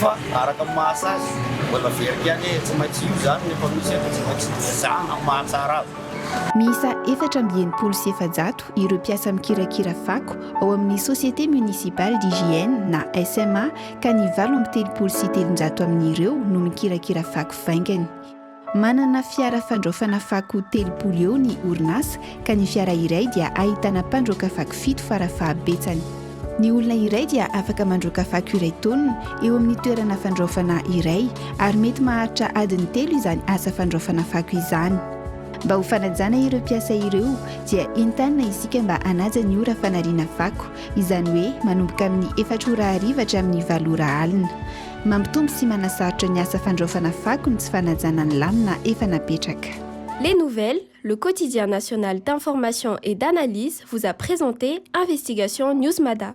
Fa araka ny maha sazy, mbola very ihany ee, tsy maintsy io izany ny efa misy eto, tsy maintsy dozana amin'ny maha tsara azy. Miisa efatra amby enimpolo sy efajato ireo mpiasa mikirakira fako ao amin'ny Société Municipale d'Hygiène na SMA ka ny valo amby telopolo sy telonjato amin'ireo no mikirakira fako vaingany. Manana fiara fandraofana fako telopolo eo ny orinasa ka ny fiara iray dia ahitana mpandroaka fako fito fara fahabetsany. Ny olona iray dia afaka mandroaka fako iray taonina eo amin'ny toerana fandraofana iray ary mety maharitra adiny telo izany asa fandraofana fako izany. Mba ho fanajana ireo mpiasa ireo dia entanina isika mba hanaja ny ora fanariana fako, izany hoe manomboka amin'ny efatra ora hariva hatramin'ny valo ora alina. Mampitombo sy manasarotra ny asa fandraofana fako ny tsy fanajana ny lamina efa napetraka. Les Nouvelles, le quotidien national d'information et d'analyse vous a présenté Investigation Newsmada.